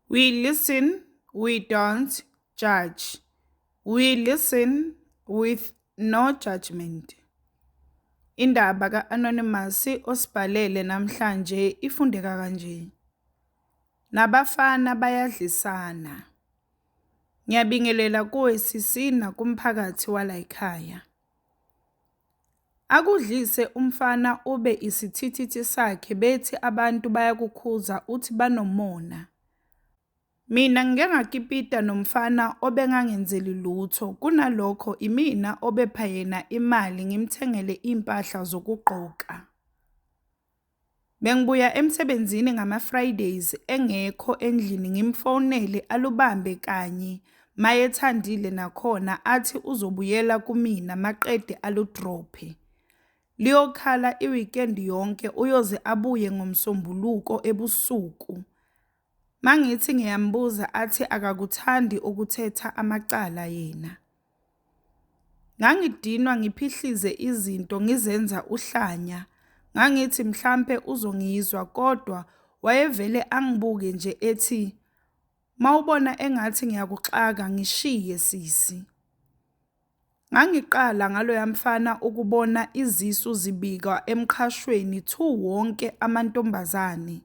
We listen, we don't judge. We listen with no judgment. Indaba ka-Anonymous osibhalele namhlanje ifundeka kanje. Nabafana bayadlisana. Ngiyabingelela kuwe sisi nakumphakathi walayikhaya. Akudlise umfana ube isithithithi sakhe bethi abantu bayakukhuza uthi banomona. Mina ngike ngakipita nomfana obengangenzeli lutho kunalokho imina obepha yena imali ngimthengele iy'mpahla zokugqoka. Bengibuya emsebenzini ngama-Fridays engekho endlini ngimfonele alubambe kanye mayethandile nakhona athi uzobuyela kumina maqede alu-drop-e. Liyokhala i-weekend yonke uyoze abuye ngoMsombuluko ebusuku. Mangithi ngiyambuza athi akakuthandi ukuthetha amacala yena. Ngangidinwa ngiphihlize izinto ngizenza uhlanya. Ngangithi mhlampe uzongizwa kodwa wayevele angibuke nje ethi mawubona engathi ngiyakuxaka ngishiye sisi. Ngangiqala ngaloya mfana ukubona izisu zibikwa emqhashweni thu wonke amantombazane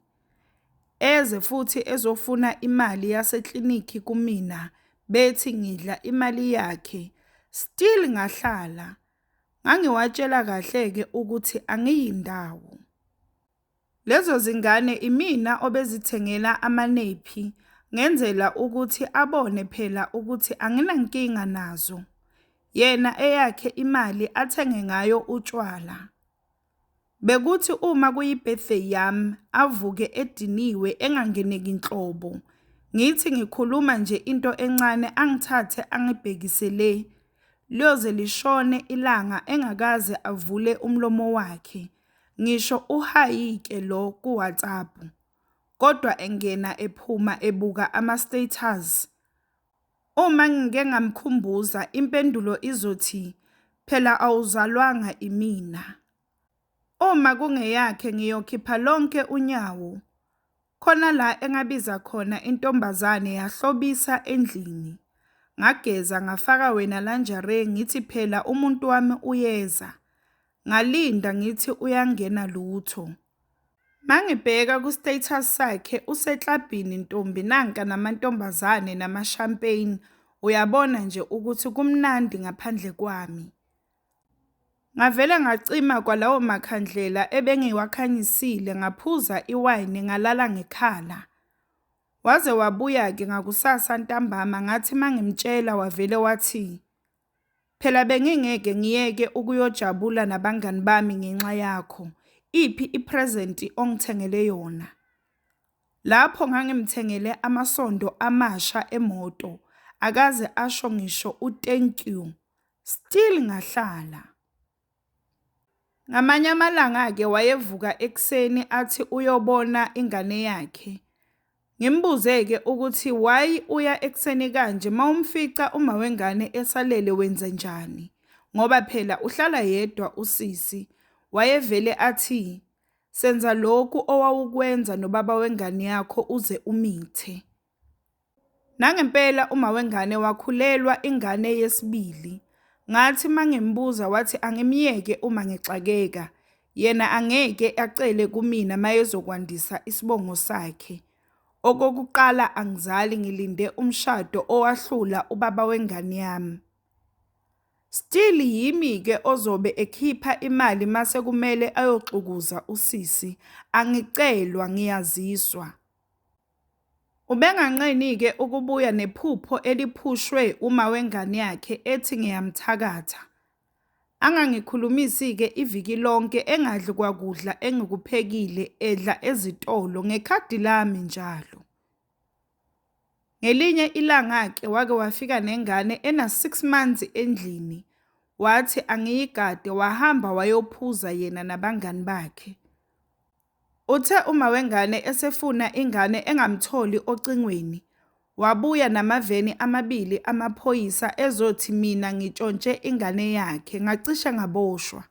eze futhi ezofuna imali yaseklinikhi kumina bethi ngidla imali yakhe still ngahlala. Ngangiwatshela kahle-ke ukuthi angiyindawo. Lezo zingane imina obezithengela amanephi ngenzela ukuthi abone phela ukuthi anginankinga nazo. Yena eyakhe imali athenge ngayo utshwala. Bekuthi uma kuyi-birthday yami avuke ediniwe engangeneki nhlobo. Ngithi ngikhuluma nje into encane angithathe angibhekise le. Liyoze lishone ilanga engakaze avule umlomo wakhe. Ngisho uhayike lo ku WhatsApp kodwa engena ephuma ebuka ama status. Uma ngike ngamkhumbuza impendulo izothi phela awuzalwanga imina. Uma kungeyakhe ngiyokhipha lonke unyawo Khona la engabiza khona intombazane yahlobisa endlini. Ngageza ngafaka wena la njare ngithi phela umuntu wami uyeza. Ngalinda ngithi uyangena lutho. Mangibheka ku status sakhe useklabhini ntombi nanka namantombazane nama champagne uyabona nje ukuthi kumnandi ngaphandle kwami. Ngavele ngacima kwalawo makhandlela ebengiwakhanyisile ngaphuza iwayini ngalala ngekhala. Waze wabuya-ke ngakusasa ntambama ngathi mangimtshela wavele wathi, Phela bengingeke ngiyeke ukuyojabula nabangani bami ngenxa yakho, iphi i-present ongithengele yona? Lapho ngangimthengele amasondo amasha emoto, akaze asho ngisho u-thank you. Still ngahlala. Ngamanye amalanga-ke wayevuka ekuseni athi uyobona ingane yakhe. Ngimbuze-ke ukuthi why uya ekuseni kanje mawumfica uma wengane esalele wenze njani ngoba phela uhlala yedwa usisi. Wayevele athi senza lokhu owawukwenza nobaba wengane yakho uze umithe. Nangempela uma wengane wakhulelwa ingane yesibili. Ngathi uma ngimbuza wathi angimyeke uma ngixakeka. Yena angeke acele kumina mayezokwandisa isibongo sakhe. Okokuqala angizali ngilinde umshado owahlula ubaba wengane yami. Still yimi ke ozobe ekhipha imali mase kumele ayoxukuza usisi. Angicelwa ngiyaziswa. Ubenganqeni-ke ukubuya nephupho eliphushwe umawengane yakhe ethi ngiyamthakatha. Angangikhulumisi-ke iviki lonke engadli kwakudla engikuphekile edla ezitolo ngekhadi lami njalo. Ngelinye ilanga-ke wake wafika nengane ena-six months endlini, wathi angiyigade wahamba wayophuza yena nabangani bakhe. Uthe uma wengane esefuna ingane engamtholi ocingweni, wabuya namaveni amabili amaphoyisa ezothi mina ngitshontshe ingane yakhe, ngacishe ngaboshwa.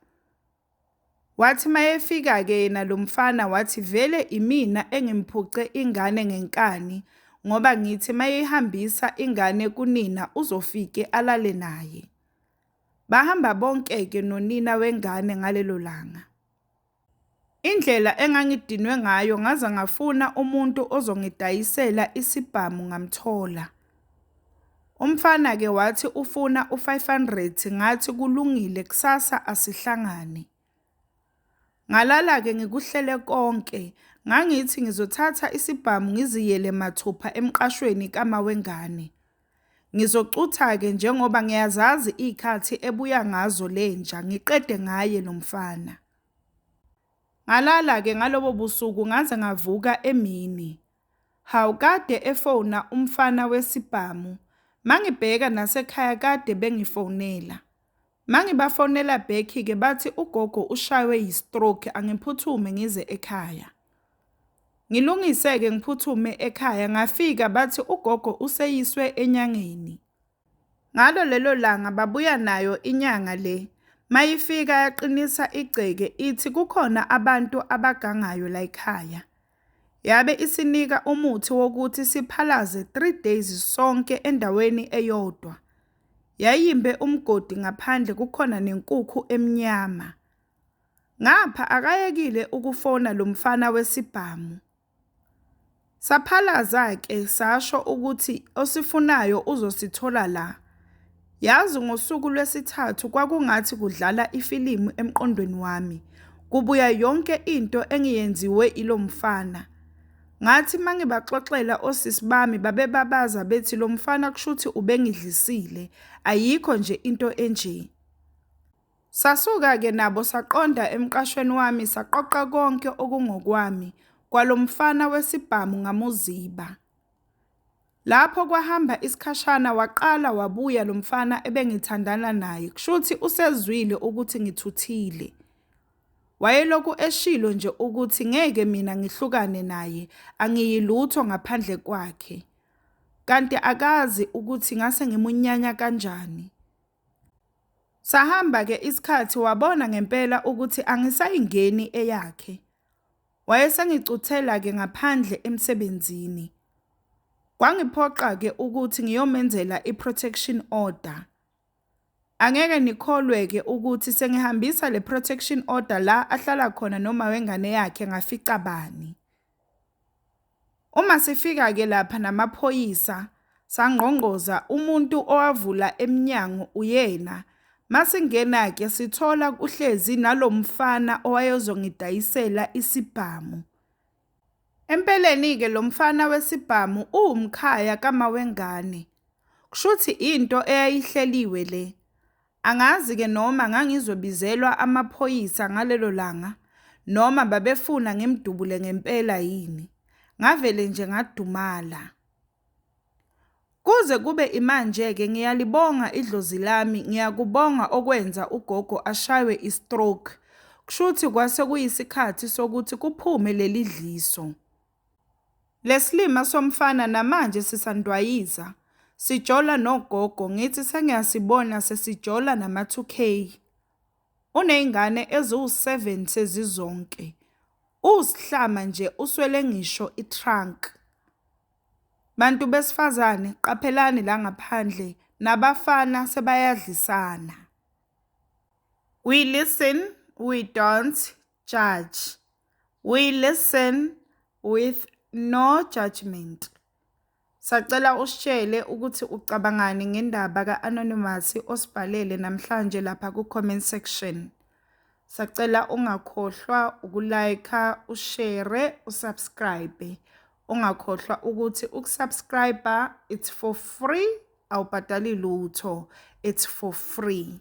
Wathi mayefika-ke yena lo mfana wathi vele imina engimphuce ingane ngenkani ngoba ngithi mayeyihambisa ingane kunina uzofike alale naye. Bahamba bonke-ke nonina wengane ngalelo langa. Indlela engangidinwe ngayo ngaze ngafuna umuntu ozongidayisela isibhamu ngamthola. Umfana-ke wathi ufuna u-five hundred, ngathi kulungile kusasa asihlangane. Ngalala-ke ngikuhlele konke, ngangithi ngizothatha isibhamu ngiziyele mathupha emqashweni kama wengane. Ngizocutha-ke njengoba ngiyazazi iy'khathi ebuya ngazo le nja, ngiqede ngaye lo mfana. Ngalala-ke ngalobo busuku ngaze ngavuka emini. Hawu kade efona umfana wesibhamu, mangibheka nasekhaya kade bengifonela. Mangibafonela back ke bathi ugogo ushaywe yi-stroke angiphuthume ngize ekhaya. Ngilungise-ke ngiphuthume ekhaya ngafika bathi ugogo useyiswe enyangeni. Ngalo lelo langa babuya nayo inyanga le. Mayifika yaqinisa igceke ithi kukhona abantu abagangayo layikhaya. Yabe isinika umuthi wokuthi siphalaze three days sonke endaweni eyodwa. Yayimbe umgodi ngaphandle kukhona nenkukhu emnyama. Ngapha akayekile ukufona lo mfana wesibhamu. Saphalaza-ke sasho ukuthi osifunayo uzosithola la. Yazi ngosuku lwesithathu kwakungathi kudlala ifilimu emqondweni wami. Kubuya yonke into engiyenziwe ilo mfana. Ngathi uma ngibaxoxela osisi bami babebabaza bethi lo mfana kushuthi ubengidlisile, ayikho nje into enje. Sasuka-ke nabo saqonda emqashweni wami saqoqa konke okungokwami, kwalo mfana wesibhamu ngamuziba. Lapho kwahamba isikhashana waqala wabuya lo mfana ebengithandana naye, kushuthi usezwile ukuthi ngithuthile. Wayelokhu eshilo nje ukuthi ngeke mina ngihlukane naye, angiyilutho ngaphandle kwakhe. Kanti akazi ukuthi ngase ngimunyanya kanjani. Sahamba-ke isikhathi wabona ngempela ukuthi angisayingeni eyakhe. Wayesengicuthela-ke ngaphandle emsebenzini. Kwangiphoqa-ke ukuthi ngiyomenzela i-protection order. Angeke nikholwe-ke ukuthi sengihambisa le protection order la ahlala khona noma wengane yakhe ngafica bani. Uma sifika-ke lapha namaphoyisa sangqongqoza umuntu owavula emnyango uyena. Masingena-ke sithola kuhlezi nalo mfana owayezongidayisela isibhamu. Empeleni-ke lo mfana wesibhamu uwumkhaya kamawengane. Kushuthi into eyayihleliwe le. Angazi ke noma ngangizobizelwa amaphoyisa ngalelo langa noma babefuna ngimdubule ngempela yini. Ngavele nje ngadumala. Kuze kube imanje ke ngiyalibonga idlozi lami ngiyakubonga okwenza ugogo ashaywe istroke kushuthi kwase kuyisikhathi sokuthi kuphume lelidliso. Leslima somfana namanje sisandwayiza sijola nogogo ngithi sengiyasibona sesijola nama 2K uneyngane eziwu 7 sezizonke uwushlama nje uswele ngisho I trunk Bantu besfazane qaphelani la ngaphandle nabafana sebayadlisana. We listen, we don't, Judge, We listen with no judgment. Sacela usitshele ukuthi ucabangani ngendaba ka-Anonymous osibhalele namhlanje lapha ku-comment section. Sacela ungakhohlwa ukulayikha, ushere, usubscribe. Ungakhohlwa ukuthi ukusubscriber it's for free awubhadali lutho it's for free